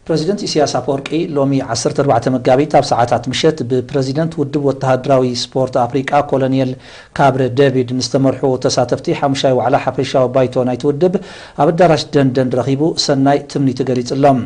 ፕረዚደንት ኢሲያስ ኣፈወርቂ ሎሚ ዓሰርተ ኣርባዕተ መጋቢት ኣብ ሰዓታት ምሸት ብፕረዚደንት ውድብ ወተሃደራዊ ስፖርት ኣፍሪቃ ኮሎኔል ካብረ ደቪድ ንዝተመርሑ ተሳተፍቲ ሓሙሻይ ዋዕላ ሓፈሻዊ ባይቶ ናይቲ ውድብ ኣብ ኣዳራሽ ደንደን ረኺቡ ሰናይ ትምኒቱ ገሊጽሎም።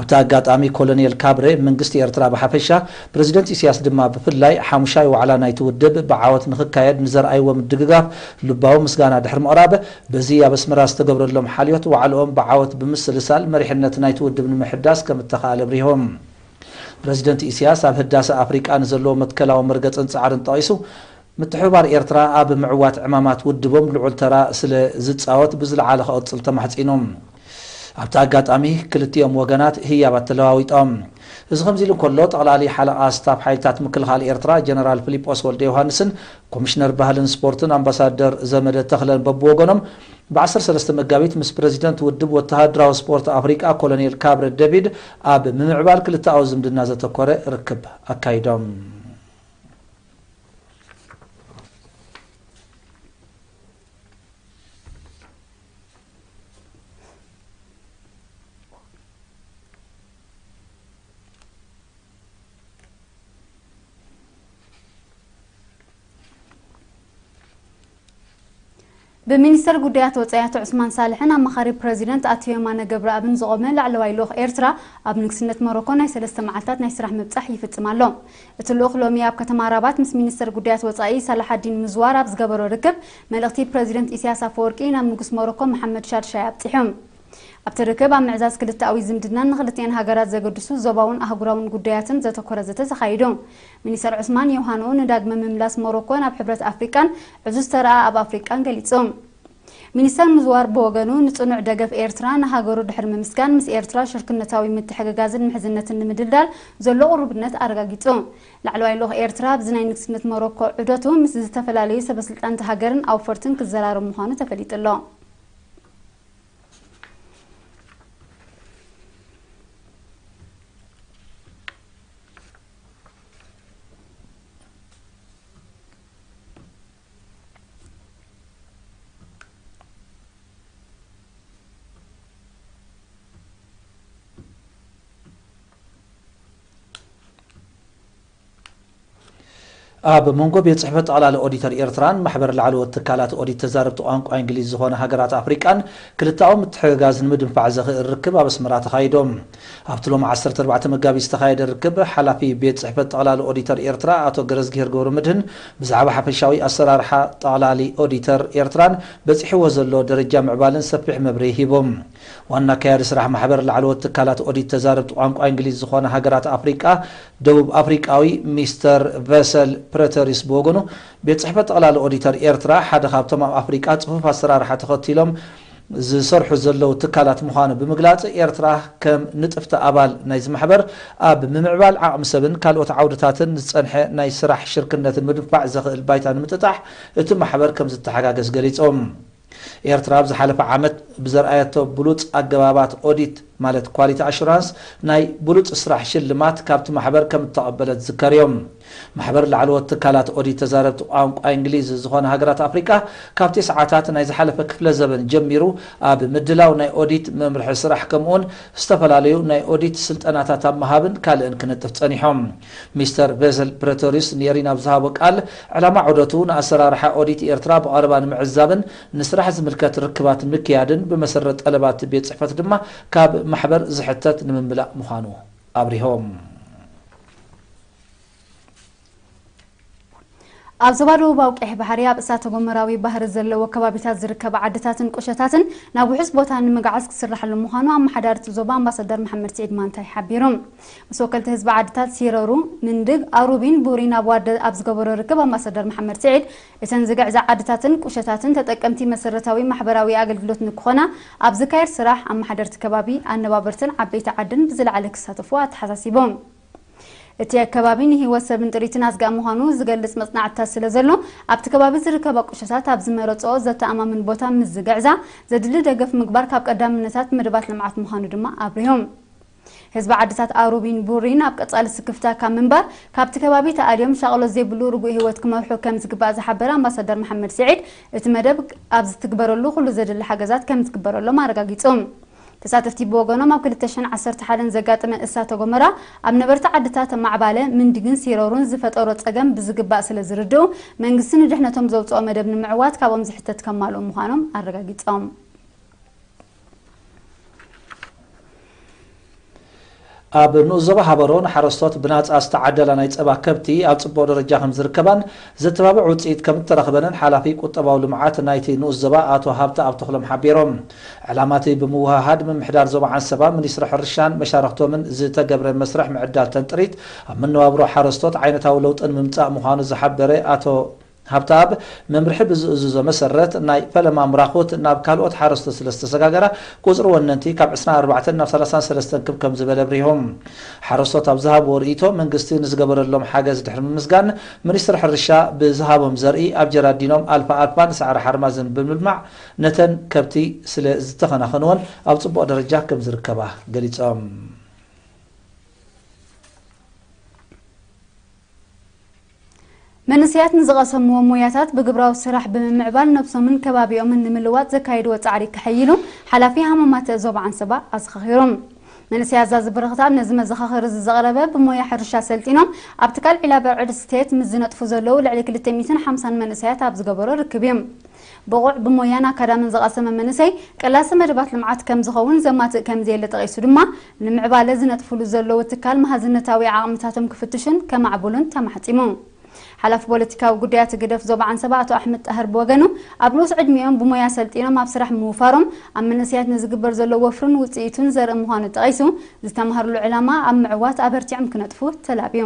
ኣብቲ ኣጋጣሚ ኮሎኔል ካብረ መንግስቲ ኤርትራ ብሓፈሻ ፕረዚደንት ኢሲያስ ድማ ብፍላይ ሓሙሻይ ዋዕላ ናይቲ ውድብ ብዓወት ንኽካየድ ንዘርኣይዎ ምድግጋፍ ልባዊ ምስጋና ድሕሪ ምቕራብ በዚ ኣብ ኣስመራ ዝተገብረሎም ሓልዮት ዋዕልኦም ብዓወት ብምስልሳል መሪሕነት ናይቲ ውድብ ንምሕዳስ ከም እተኻእለ ኣብሪሆም። ፕረዚደንት ኢሲያስ ኣብ ህዳሰ ኣፍሪቃ ንዘለዎ መትከላዊ መርገጽን ጻዕርን ጠቒሱ፣ ምትሕብባር ኤርትራ ኣብ ምዕዋት ዕማማት ውድቦም ልዑል ተራ ስለ ዝጻወት ብዝለዓለ ክቕጽል ተማሕጺኑ። ኣብቲ ኣጋጣሚ ክልቲኦም ወገናት ህያባት ተለዋዊጦም። እዚ ከምዚ ኢሉ እንከሎ፣ ጠቕላሊ ሓለቓ ስታፍ ሓይልታት ምክልኻል ኤርትራ ጀነራል ፍሊጶስ ወልደዮውሃንስን ኮሚሽነር ባህልን ስፖርትን ኣምባሳደር ዘመደ ተኽለን በብወገኖም ብ ዓሰርተ ሰለስተ መጋቢት ምስ ፕረዚደንት ውድብ ወተሃደራዊ ስፖርት ኣፍሪቃ ኮሎኔል ካብረ ደቪድ ኣብ ምምዕባል ክልተኣዊ ዝምድና ዘተኮረ ርክብ ኣካይዶም። ብሚኒስተር ጉዳያት ወጻኢ ኣቶ ዑስማን ሳልሕን ኣማኻሪ ፕረዚደንት ኣቶ የማነ ገብረኣብን ዝቖመ ላዕለዋይ ልኡኽ ኤርትራ ኣብ ንግስነት ሞሮኮ ናይ ሰለስተ መዓልታት ናይ ስራሕ ምብጻሕ ይፍጽም ኣሎ። እቲ ልኡኽ ሎሚ ኣብ ከተማ ራባት ምስ ሚኒስተር ጉዳያት ወጻኢ ሳላሓዲን ምዝዋር ኣብ ዝገበሮ ርክብ፣ መልእኽቲ ፕረዚደንት ኢሳያስ ኣፈወርቂ ናብ ንጉስ ሞሮኮ መሓመድ ሻድሻይ ኣብጺሑ። ኣብቲ ርክብ ኣብ ምዕዛዝ ክልተኣዊ ዝምድናን ንኽልቲኤን ሃገራት ዘገድሱ ዞባውን ኣህጉራውን ጉዳያትን ዘተኮረ ዘተ ተኻይዱ። ሚኒስተር ዑስማን ዮሃኖ ንዳግመ ምምላስ ሞሮኮ ናብ ሕብረት ኣፍሪቃን ዕዙዝ ተራኣ ኣብ ኣፍሪቃን ገሊጹ። ሚኒስተር ምዝዋር ብወገኑ፣ ንጽኑዕ ደገፍ ኤርትራ ንሃገሩ ድሕሪ ምምስጋን፣ ምስ ኤርትራ ሽርክነታዊ ምትሕግጋዝን ምሕዝነትን ንምድልዳል ዘሎ ቅሩብነት ኣረጋጊጹ። ላዕለዋይ ልኡኽ ኤርትራ ኣብዚ ናይ ንግስነት ሞሮኮ ዑደቱ፣ ምስ ዝተፈላለዩ ሰበስልጣን'ታ ሃገርን ኣውፈርትን ክዘራረብ ምዃኑ ተፈሊጡ'ሎ። ኣብ መንጎ ቤት ጽሕፈት ጠቕላሊ ኦዲተር ኤርትራን ማሕበር ላዕለዎት ትካላት ኦዲት ተዛረብቲ ቋንቋ እንግሊዝ ዝኾነ ሃገራት ኣፍሪቃን ክልተኣዊ ምትሕግጋዝ ንምድንፋዕ ዘኽእል ርክብ ኣብ ኣስመራ ተኻይዶም። ኣብቲ ሎሚ ዓሰርተ ኣርባዕተ መጋቢት ዝተኻየደ ርክብ፣ ሓላፊ ቤት ጽሕፈት ጠቕላሊ ኦዲተር ኤርትራ ኣቶ ገረዝግሄር ገብረመድህን ብዛዕባ ሓፈሻዊ ኣሰራርሓ ጠቕላሊ ኦዲተር ኤርትራን በጺሕዎ ዘሎ ደረጃ ምዕባልን ሰፊሕ መብርሂ ሂቦም። ዋና ኣካያዲ ስራሕ ማሕበር ላዕለዎት ትካላት ኦዲት ተዛረብቲ ቋንቋ እንግሊዝ ዝኾና ሃገራት ኣፍሪቃ ደቡብ ኣፍሪቃዊ ሚስተር ቨሰል ፕረተሪስ ብወገኑ ቤት ጽሕፈት ጠቕላሊ ኦዲተር ኤርትራ ሓደ ካብቶም ኣብ ኣፍሪቃ ጽፉፍ ኣሰራርሓ ተኸቲሎም ዝሰርሑ ዘለዉ ትካላት ምዃኑ ብምግላጽ፣ ኤርትራ ከም ንጥፍቲ ኣባል ናይዚ ማሕበር፣ ኣብ ምምዕባል ዓቕሚ ሰብን ካልኦት ዓውድታትን ዝጸንሐ ናይ ስራሕ ሽርክነት ንምድንፋዕ ዘኽእል ባይታ ንምጥጣሕ እቲ ማሕበር ከም ዝተሓጋገዝ ገሊጾም። ኤርትራ ኣብ ዝሓለፈ ዓመት ብዘርኣየቶ ብሉጽ ኣገባባት ኦዲት ማለት ኳሊቲ ኣሹራንስ ናይ ብሉጽ ስራሕ ሽልማት ካብቲ ማሕበር ከም እተቐበለት ዝዝከርዮ። ማሕበር ላዕለዎት ትካላት ኦዲት ተዛረብቲ ቋንቋ እንግሊዝ ዝኾና ሃገራት ኣፍሪቃ ካብ ቴስዓታት ናይ ዝሓለፈ ክፍለ ዘበን ጀሚሩ ኣብ ምድላው ናይ ኦዲት መምርሒ ስራሕ ከምኡውን ዝተፈላለዩ ናይ ኦዲት ስልጠናታት ኣብ ምሃብን ካልእን ክንጥፍ ጸኒሖም ሚስተር ቨሰል ፕረቶሪዩስ ንኤሪና ኣብ ዝሃቦ ቃል ዕላማ ዑደቱ ንኣሰራርሓ ኦዲት ኤርትራ ብቐረባ ንምዕዛብን ንስራሕ ዝምልከት ርክባት ንምክያድን ብመሰረት ጠለባት ቤት ጽሕፈት ድማ ካብ ማሕበር ዝሕተት ንምምላእ ምዃኑ ኣብ ዞባ ደቡባዊ ቀይሕ ባሕሪ ኣብ እሳተጎመራዊ ባህሪ ዘለዎ ከባቢታት ዝርከባ ዓድታትን ቁሸታትን ናብ ውሑስ ቦታ ንምግዓዝ ክስራሕሉ ምዃኑ ኣመሓዳሪ እቲ ዞባ ኣምባሳደር መሓመድ ስዒድ ማንታይ ሓቢሩ። ምስ ወከልቲ ህዝቢ ዓድታት ሲረሩ፣ ንንድግ፣ ኣሩቢን ቡሪን ኣብ ዋርደ ኣብ ዝገበሮ ርክብ ኣምባሳደር መሓመድ ስዒድ እተን ዝግዕዛ ዓድታትን ቁሸታትን ተጠቀምቲ መሰረታዊ ማሕበራዊ ኣገልግሎት ንክኾና ኣብ ዝካየድ ስራሕ ኣመሓደርቲ ከባቢ፣ ኣነባበርትን ዓበይቲ ዓድን ብዝለዓለ ክሳተፉ ኣተሓሳሲቦም። እቲ ኣከባቢ ንህይወት ሰብን ጥሪትን ኣስጋኢ ምዃኑ ዝገልፅ መፅናዕትታት ስለዘሎ ኣብቲ ከባቢ ዝርከባ ቁሸታት ኣብ ዝመረፅኦ ዘተኣማምን ቦታ ምስ ዝግዕዛ ዘድሊ ደገፍ ምግባር ካብ ቀዳምነታት መደባት ልምዓት ምዃኑ ድማ ኣብሪሆም። ህዝቢ ዓድታት ኣሩቢን ቡሪን ኣብ ቀፃሊ ስክፍታ ካብ ምንባር ካብቲ ከባቢ ተኣልዮም ሻቕሎት ዘይብሉ ርጉእ ህይወት ክመርሑ ከምዝግባእ ዝሓበረ ኣምባሳደር መሓመድ ስዒድ እቲ መደብ ኣብ ዝትግበረሉ ኩሉ ዘድሊ ሓገዛት ከምዝትግበረሎም ኣረጋጊፁ። ተሳተፍቲ ብወገኖም ኣብ ክልተ ሽሕን ዓሰርተ ሓደን ዘጋጠመ እሳተ ጎመራ ኣብ ነበርቲ ዓድታት ማዕባለ፣ ምንዲግን ሲሮርን ዝፈጠሮ ፀገም ብዝግባእ ስለዝርድኡ መንግስቲ ንድሕነቶም ዘውፀኦ መደብ ንምዕዋት ካብኦም ዝሕተት ከማልኡ ምዃኖም ኣረጋጊፆም። ኣብ ንኡስ ዞባ ሃበሮ ንሓረስቶት ብናፃ ዝተዓደላ ናይ ፀባ ከብቲ ኣብ ፅቡቕ ደረጃ ከምዝርከባን ዘተባብዕ ውፅኢት ከምተረኽበንን ሓላፊ ቁጠባዊ ልምዓት ናይቲ ንኡስ ዞባ ኣቶ ሃብተኣብ ተኽሎም ሓቢሮም። ዕላማ እቲ ብምውህሃድ ምምሕዳር ዞባ ዓንሰባ፣ ሚኒስትሪ ሕርሻን መሻርኽቶምን ዝተገብረ መስርሕ ምዕዳል ተንጥሪት ኣብ መነባብሮ ሓረስቶት ዓይነታዊ ለውጢ ንምምፃእ ምዃኑ ዝሓበረ ኣቶ ሃብተኣብ መምርሒ ብዝእዝዞ መሰረት ናይ ፈለማ ምራኹት ናብ ካልኦት ሓረስቶት ስለ ዝተሰጋገራ ቁፅሪ ወነንቲ ካብ ዕስራን ኣርባዕተን ናብ ሰላሳን ሰለስተን ክብ ከም ዝበለ ኣብሪሁ። ሓረስቶት ኣብ ዝሃብዎ ርኢቶ መንግስቲ ንዝገበረሎም ሓገዝ ድሕሪ ምምስጋን ሚኒስትር ሕርሻ ብዝሃቦም ዘርኢ ኣብ ጀራዲኖም ኣልፋ ኣልፋን ሳዕሪ ሓርማዝን ብምልማዕ ነተን ከብቲ ስለ ዝተኸናኸንወን ኣብ ፅቡቕ ደረጃ ከም ዝርከባ ገሊፆም። መንእሰያት ንዝቐሰምዎ ሞያታት ብግብራዊ ስራሕ ብምምዕባል ነብሶምን ከባቢኦምን ንምልዋጥ ዘካይድዎ ጻዕሪ ከሐይሉ ሓላፊ ሃማማተ ዞባ ዓንሰባ ኣዘኻኺሩ። መንእሰያት ዛዚ በረኽት ነዚ መዘኻኸሪዚ ዘቕረበ ብሞያ ሕርሻ ሰልጢኖም ኣብ ትካል ዒላበ ርዕድ ስቴት ምስ ዝነጥፉ ዘለዉ ልዕሊ ክልተ ሚእትን ሓምሳን መንእሰያት ኣብ ዝገበሮ ርክብ'ዩ። ብቑዕ ብሞያን ኣካዳምን ዝቐሰመ መንእሰይ ቀላሲ መደባት ልምዓት ከምዝኸውን ዘማትእ ከምዘየለ ጠቒሱ ድማ ንምዕባለ ዝነጥፉሉ ዘለዉ ትካል መሃዝነታዊ ዓቕምታቶም ክፍትሹን ከማዕብሉን ተማሕጺሙ። ሓላፊ ፖለቲካዊ ጉዳያት ህግደፍ ዞባ ዓንሰባ ኣቶ ኣሕመድ ጣህር ብወገኑ፣ ኣብ ንኡስ ዕድሚኦም ብሞያ ኣሰልጢኖም ኣብ ስራሕ ምውፋሮም፣ ኣብ መንእሰያት ንዝግበር ዘሎ ወፍርን ውጽኢቱን ዘርኢ ምዃኑ ጠቒሱ፣ ዝተማህርሉ ዕላማ ኣብ ምዕዋት ኣበርቲዖም ክነጥፉ ተላብዩ።